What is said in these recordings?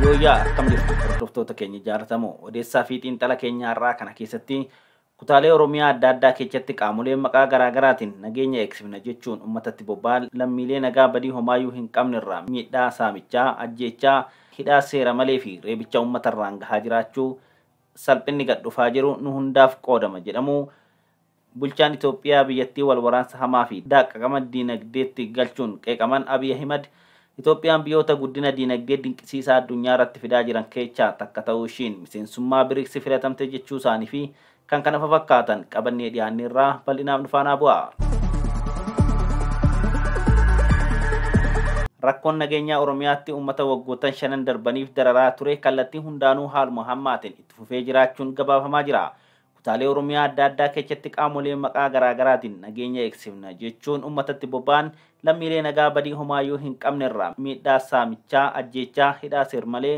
Yooyyaa akkam jirtu hordoftoota keenya jaallatamoo odeessaa fi xiinxala keenya har'aa kana keessatti kutaalee Oromiyaa adda addaa keessatti qaamoleen maqaa garaa garaatiin nageenya eegsifna jechuun uummatatti bobba'an lammiilee nagaa badii homaayyuu hin qabne irraa miidhaa saamichaa, ajjeechaa, hidhaa seera malee fi reebicha uummata irraan gahaa jiraachuu salphinni gad dhufaa jiru nu hundaaf qoodama jedhamu Bulchaan Itoophiyaa biyyattii wal waraansa hamaa fi daaqqaqama diinagdeetti galchuun qeeqaman Abiy Ahimad, Itoophiyaan biyoota guddina diinagdee dinqisiisaa addunyaarratti fidaa jiran keechaa takka ta'uu ishiin, miseensummaa Brics filatamte jechuu isaanii fi kkf qabannee dhiyaanneerra bal'inaan nu faanaa bu'aa. Rakkoon nageenyaa Oromiyaatti uummata waggoottan shanan darbaniif dararaa ture kallattii hundaanuu haaluma hammaateen itti fufee jiraachuun gabaafamaa jira. Kutaalee Oromiyaa adda addaa kechatti qaamolee maqaa garaagaraatiin nageenya eegsifna jechuun ummatatti boba'an lammiilee nagaa badii homaayyuu hin qabnerraa miidhaa saamichaa, ajjeechaa, hidhaa seermalee,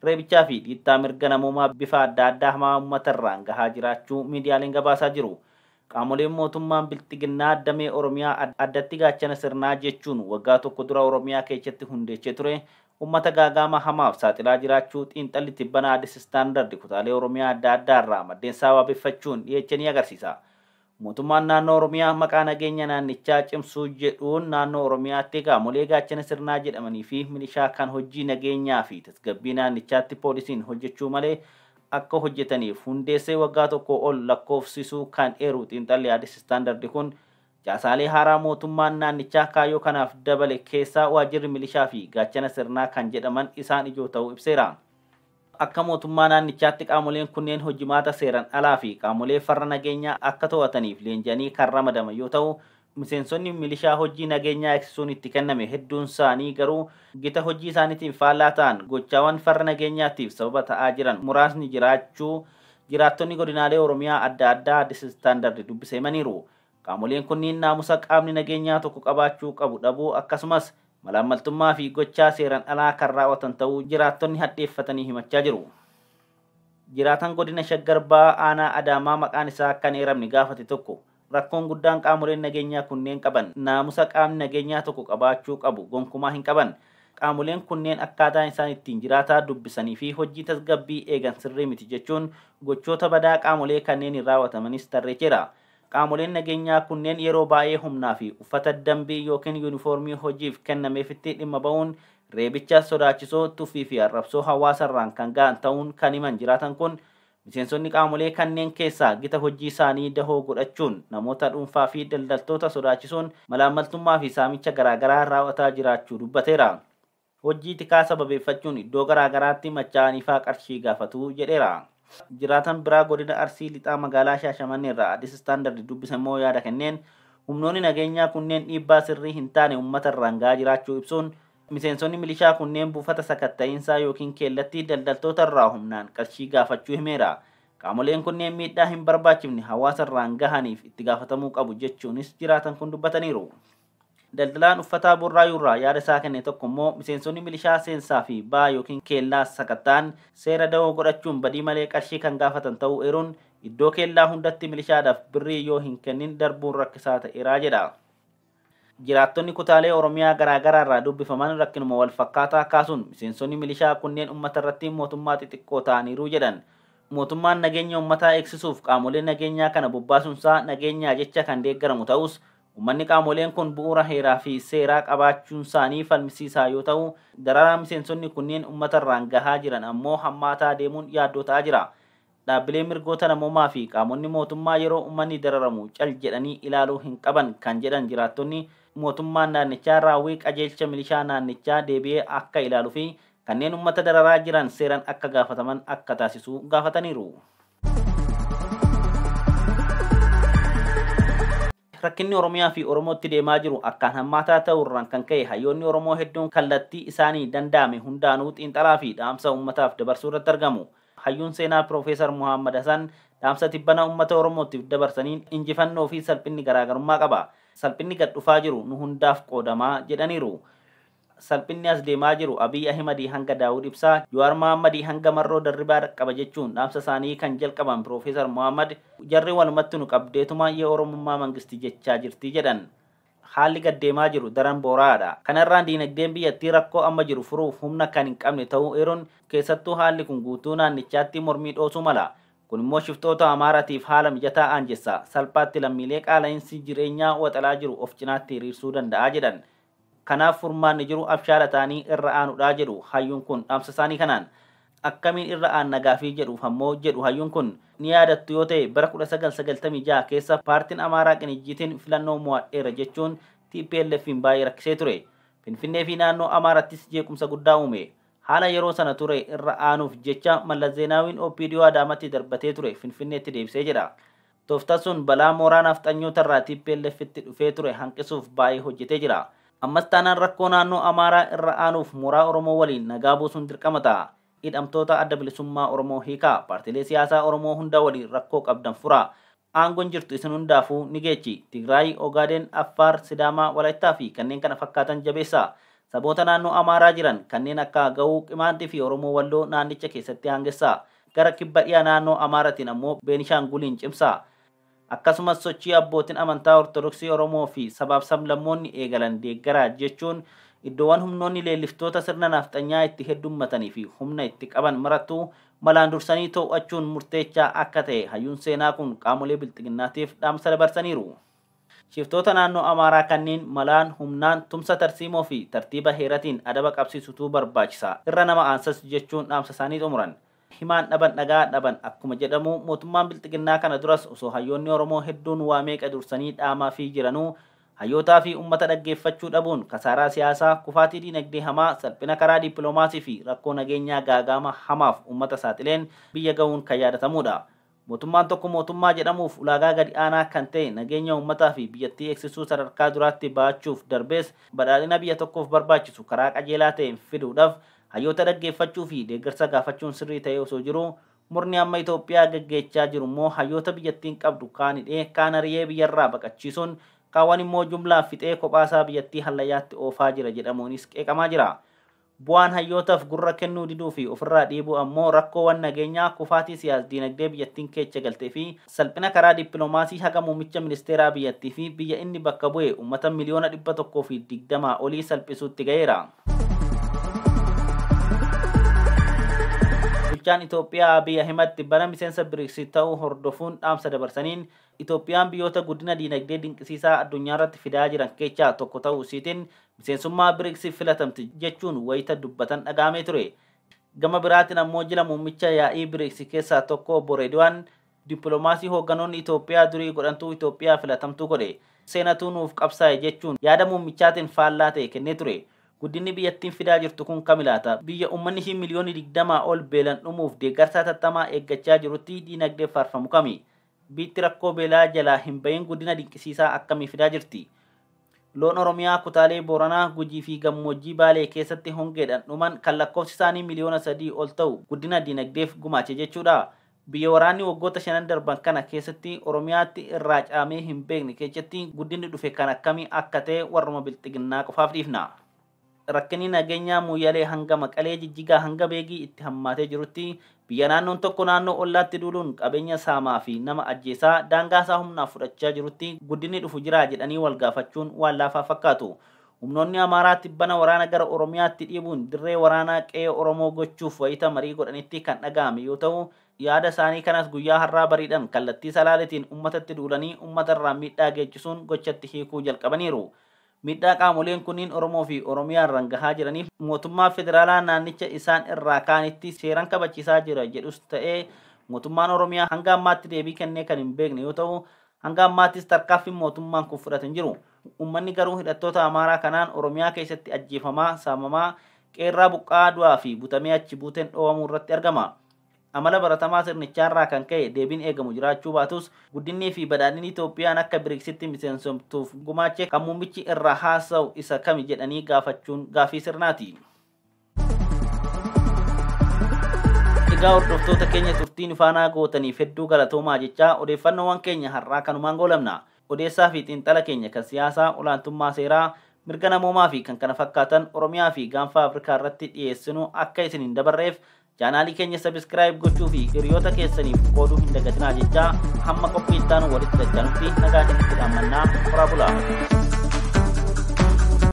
reebichaa fi dhiittaa mirga namoomaa bifa adda addaa hamaa ummatarraan gahaa jiraachuu miidiyaaleen gabaasaa jiru. Qaamoleen mootummaan bilxiginnaa damee Oromiyaa addatti gaachana sirnaa jechuun waggaa tokko dura Oromiyaa kechatti hundeechee ture ummata gaaga'ama hamaaf saaxilaa jiraachuu xiinxalli tibbana Addis Standard kutaalee Oromiyaa adda addaa irraa maddeensaa waabeffachuun dhiyeeche ni agarsiisa. Mootummaan Naannoo Oromiyaa maqaa nageenya naannichaa cimsuu jedhuun Naannoo Oromiyaatti qaamolee gaachana sirnaa jedhamanii fi milishaa kan hojjii nageenyaa fi tasgabbii naannichaatti poolisiin hojjechuu malee akka hojjetaniif hundeessee waggaa tokkoo ol lakkoofsisuu kan eeru xiinxalli Addis Standard kun, Caasaalee haaraa mootummaan naannichaa kaayyoo kanaaf dabale keessaa waajjirri milishaa fi gaachana sirnaa kan jedhaman isaan ijoo ta'uu ibseera. Akka mootummaa naannichaatti qaamoleen kunneen hojimaata seeran alaa fi qaamolee farra nageenyaa akka to'ataniif leenji'anii kan ramadaman yoo ta'u, miseensonni milishaa hojjii nageenyaa eegsisuun itti kenname hedduunsaanii garuu gita hojjii isaaniitiin faallaa ta'an gochaawan farra nageenyaatiif sababa ta'aa jiran muraasni jiraachuu jiraattonni godinaalee Oromiyaa adda addaa Addis Standard dubbise himaniiru. Qaamoleen kunniin naamusa qaamni nageenyaa tokko qabaachuu qabu dhabuu akkasumas malaammaltummaa fi gochaa seeran alaa kan raawwatan ta'uu jiraattonni hadheeffatanii himachaa jiru. Jiraataan Godina Shaggar Bahaa Aanaa Adaamaa maqaan isaa akka hin eeramne gaafate tokko rakkoon guddaan qaamoleen nageenyaa kunneen qaban naamusa qaamni nageenyaa tokko qabaachuu qabu gonkumaa hin qaban. Qaamoleen kunneen akkaataan isaan ittiin jiraataa dubbisanii fi hojjii tasgabbii eegan sirrii miti jechuun gochoota badaa qaamolee kanneeniin raawwatamanis tarreecheera. Qaamoleen nageenyaa kunneen yeroo baay'ee humnaa fi uffata dambii ykn yuunifoormii hojiif kennameefitti dhimma ba'uun reebicha sodaachisoo, tuffii fi arrabsoo hawaasa irraan kan ga'an ta'uun kan himan jiraatan kun, miseensonni qaamolee kanneen keessaa gita hojii isaanii dahoo godhachuun namoota dhuunfaa fi daldaltoota sodaachisuun malaammaltummaa fi saamicha garaagaraa raaw'ataa jiraachuu dubbateera. Hojjii tikaa sababeeffachuun iddoo garaa garaatti machaa'aniifaa qarshii gaafatu jedheera. Jiraataan biraa godina Arsii Lixaa magaalaa Shaashamanneerraa Addis Standard dubbisemmoo yaada kenneen, humnoonni nageenyaa kunneen dhiibbaa sirrii hin taane ummata irraan ga'aa jiraachuu ibsuun, miseensonni milishaa kunneen buufata sakatta'iinsaa ykn keellatti daldaltoota irraa humnaan qarshii gaafachuu himeera. Qaamoleen kunneen miidhaa hin barbaachifne hawaasa irraan gahaniif itti gaafatamuu qabu jechuunis jiraatan kun dubbataniiru. Daldalaan uffataa Burraayuurraa yaada isaa kenne tokko immoo miseensonni milishaa seensaa fi ba'aa ykn keellaa sakatta'an seera dawoo godhachuun badii malee qarshii kan gaafatan ta'uu eeruun, iddoo keellaa hundatti milishaadhaaf birrii yoo hin kennin darbuun rakkisaa ta'eera jedha. Jiraattonni kutaalee Oromiyaa garaa garaarraa dubbifaman rakkinuma walfakkaataa kaasuun miseensonni milishaa kunneen ummatarratti mootummaa xixiqqoo ta'aniiru jedhan. Mootummaan nageenya ummataa eegsisuuf qaamolee nageenyaa kana bobbaasuunsaa nageenyaa jecha kan deeggaramu ta'us, Ummanni qaamoleen kun bu'uura heeraa fi seeraa qabaachuunsaanii falmisiisaa yoo ta'u, dararaan miseensonni kunneen ummatarraan gahaa jiran ammoo hammaataa deemuun yaaddoo ta'aa jira. Dhaabbileen mirgoota namoomaa fi qaamonni mootummaa yeroo ummanni dararamu cal jedhanii ilaaluu hin qaban kan jedhan jiraattonni, mootummaan naannichaa raawwii qajeelcha milishaa naannichaa deebi'ee akka ilaaluufi kanneen ummata dararaa jiran seeran akka gaafataman akka taasisuu gaafataniiru. rakkinni Oromiyaa fi Oromootti deemaa jiru akkaan hammaataa ta'uurraan kan ka'e hayyoonni Oromoo hedduun kallattii isaanii danda'ame hundaanuu xiinxalaa fi dhaamsa uummataaf dabarsuu irratti argamu. Hayyuun seenaa Piroofeesar Muhaammad Hasan dhaamsa tibbana uummata Oromootiif dabarsaniin injifannoo fi salphinni garaagarummaa qaba. Salphinni gad dhufaa jiru nu hundaaf qoodamaa jedhaniiru. Salphinni as deemaa jiru Abiy Ahimadii hanga Daawud Ibsaa, Jawaar Mohaammadii hanga Marroo Darribaa dhaqqaba jechuun dhaamsa isaanii kan jalqaban Piroofeesar Mohammad, jarri walumattu nu qabdeetuma ye Oromummaa Mangisti jechaa jirti jedhan. Haalli gad deemaa jiru daran boora'aadha. Kana irraan diinagdeen biyyattii rakkoo amma jiru furuuf humna kan hin qabne ta'uu eeruun, keessattuu haalli kun guutuu naannichaatti mormii dhoosuu mala. Kun immoo shiftoota Amaaratiif haala mijataa aanjessa. Salphaatti lammiilee qaala'insi jireenyaa waxalaa jiru of cinaatti hiriirsuu danda'a jedhan. Kanaaf furmaanni jiru abshaala ta'anii irra aanuudha jedhu hayyuun kun dhaamsasaanii kanaan. Akkamiin irra aanna gaafii jedhuuf ammoo jedhu hayyuun kun, ni yaadattu yoo ta'e bara 1996 keessa paartiin Amaaraa Qinijjiitiin filannoo mo'adheera jechuun TPLFiin baay'ee rakkisee ture. Finfinneefi naannoo Amaarattis jeequmsa guddaa uume. Haala yeroo sana ture irra aanuuf jecha Mallas Zeenaawiin OPDO Adaamatti darbatee ture Finfinneetti deebise jedha. Tooftaa sun balaa mooraa naafxanyoota irraa TPLFtti dhufee ture hanqisuuf baay'ee hojjetee jira. Ammas taanaan rakkoo naannoo Amaaraa irra aanuuf mooraa Oromoo waliin nagaa buusuun dirqama ta'a. Hidhamtoota Adda Bilisummaa Oromoo hiikaa. Paartilee siyaasaa Oromoo hunda waliin rakkoo qabdan furaa. Aangoon jirtu isin hundaafuu ni geechi. Tigraayi, Ogaadeen, Affaar, Sidaamaa, Walaittaa fi kanneen kana fakkaatan jabeessaa. Saboota naannoo Amaaraa jiran kanneen akka Agawuu, Qimaantii fi Oromoo Walloo naannicha keessatti aangessaa. gara kibba dhiya naannoo Amaaratiin ammoo Beenishaanguliin cimsa. Akkasumas sochii abbootin amantaa Ortodoksii Oromoo fi sabaaf sablammoonni eegalan deeggara jechuun iddoowwan humnoonni leelliftoota sirna naafxanyaa itti heddummatanii fi humna itti qaban marattuu malaan dursanii too'achuun murteechaa akka ta'e hayyuun seenaa kun qaamolee bilxiginnaatiif dhaamsa dabarsaniiru. Shiftoota naannoo Amaaraa kanniin malaan, humnaan, tumsa tarsiimoo fi tartiiba heeratiin adaba qabsiisutu barbaachisa. Irra nama aansas jechuun dhaamsa isaanii xumuran. Himaan dhaban dhagaa dhaban akkuma jedhamu mootummaan Bilxiginnaa kana duras osoo hayyoonni Oromoo hedduun waa meeqa dursanii dhaamaafii jiranuu hayyootaa fi ummata dhaggeeffachuu dhabuun kasaaraa siyaasaa, kufaatii diinagdee hamaa, salphina karaa diippiloomaasii fi rakkoo nageenyaa gaaga'ama hamaaf ummata saaxileen biyya ga'uun kan yaadatamuudha. Mootummaan tokko mootummaa jedhamuuf ulaagaa gadi aanaa kan ta'e nageenya uummataa fi biyyattii eegsisuu sadarkaa duraatti ba'achuuf darbees badhaadhina biyya tokkoof barbaachisu karaa qajeelaa ta'een fiduudhaf hayyoota dhaggeeffachuu fi deeggarsa gaafachuun sirrii ta'ee osoo jiruu murni amma Itoophiyaa geggeechaa jiru immoo hayyoota biyyattiin qabdu kaan hidhee kaan ari'ee biyyarraa baqachiisuun kaawwan immoo jumlaan fixee kophaasaa biyyattii hallayyaatti oofaa jira jedhamuunis qeeqamaa jira. Bu'aan hayyootaf gurra kennuu diduu fi ofirraa dhiibuu ammoo rakkoowan nageenyaa, kufaatii siyaas-diinagdee biyyattiin keecha galtee fi salphina karaa dippilomaasii haga muummicha ministeeraa biyyattii fi biyya inni bakka bu'e ummata miliyoona 120 olii salphisuutti gaheera. Bulchaan Itoophiyaa Abiy Ahimad tibbana miseensa Brics ta'uu hordofuun dhaamsa dabarsaniin, Itoophiyaan biyyoota guddina diinagdee dinqisiisaa addunyaarratti fidaa jiran keechaa tokko ta'uu isiitiin miseensummaa Brics'f filatamte jechuun wayita dubbatan dhaga'amee ture. Gama biraatiin ammoo jila muummicha yaa'ii Brics keessaa tokko Obbo Reediwaan, dippilomaasii hoogganoonni Itoophiyaa durii godhantu Itoophiyaa filatamtuu godhe. Seenatu nuuf qabsaa'e jechuun yaada muummichaatiin faallaa ta'e kennee ture. Guddinni biyyattiin fidaa jirtu kun kami laata? Biyya ummanni ishii miliyoonni 20 ol beelan dhumuuf deeggarsa hatattamaa eeggachaa jirutti diinagdee faarfamu kami? Biitti rakkoo beelaa jalaa hin ba'iin guddina dinqisiisaa akkamii fidaa jirti? Loon Oromiyaa kutaalee Booranaa, Gujii fi Gammoojjii Baalee keessatti hongeedhan dhuman kan lakkoofsi isaanii miliyoona sadii ol ta'u guddina diinagdeef gumaache jechuudhaa? Biyya waraanni waggoota shanan darban kana keessatti Oromiyaatti irraa caamee hin beekne keechatti guddinni dhufe kan akkamii akka ta'e warruma Bilxiginnaa qofaaf dhiifna. Rakkinni nageenyaa Mooyyalee hanga Maqalee, Jijjigaa hanga Beegii itti hammaatee jirutti biyya naannoon tokko naannoo ollaatti duuluun qabeenya saamaa fi nama ajjeesaa daangaasaa humnaaf fudhachaa jirutti guddinni dhufu jiraa jedhanii walgaafachuun waan laafaa fakkaatu. Humnoonni Amaaraa tibbana waraana gara Oromiyaatti dhiibuun dirree waraanaa qe'ee Oromoo gochuuf wayita marii godhanitti kan dhaga'ame yoo ta'u, yaada isaanii kanas guyyaa har'aa bariidhan kallattii Salaaletiin ummatatti duulanii ummatarraan miidhaa geechisuun gochatti hiikuu jalqabaniiru. Miidhaa qaamoleen kunniin Oromoo fi Oromiyaa irran gahaa jiraniif mootummaan federaalaa naannicha isaan irraa kaanitti seeran kabachiisaa jira jedhus ta'ee mootummaan Oromiyaa hanga ammaatti deebii kennee kan hin beekne yoo ta'u hanga ammaattis tarkaanfin mootummaan kun fudhate hin jiru. Uummanni garuu hidhattoota Amaaraa kanaan Oromiyaa keessatti ajjeefamaa, saamamaa, qe'erraa buqqa'aa du'aa fi butamee achi buuteen dhoowamuu irratti argama. Amala baratamaa sirnichaarraa kan ka'e deebiin eegamu jiraachuu baatus, guddinniifi badhaadhinni Itoophiyaan akka Brics'tti miseensomtuuf gumaache kan muummichi irraa haasa'u isa kami jedhanii gaafachuun gaaffii sirnaati. Egaa hordoftoota keenya turtii nu faanaa gootaniif hedduu galatoomaa jechaa odeeffannoowwan keenya har'aa kanumaan goolabna. Odeessaafi xiinxala keenya kan siyaasaa, olaantummaa seeraa, mirga namoomaafi kan kana fakkaatan Oromiyaafi Gaanfa Afrikaarratti dhiyeessinu akka isin hin dabarreef Chaanaalii keenya subscribe gochuu fi hiriyoota keessaniif qooduu hin dagatinaa jechaa hamma qophii itti aanu walitti dachanutti nagaa isinitti dhaammannaa horaa bulaa.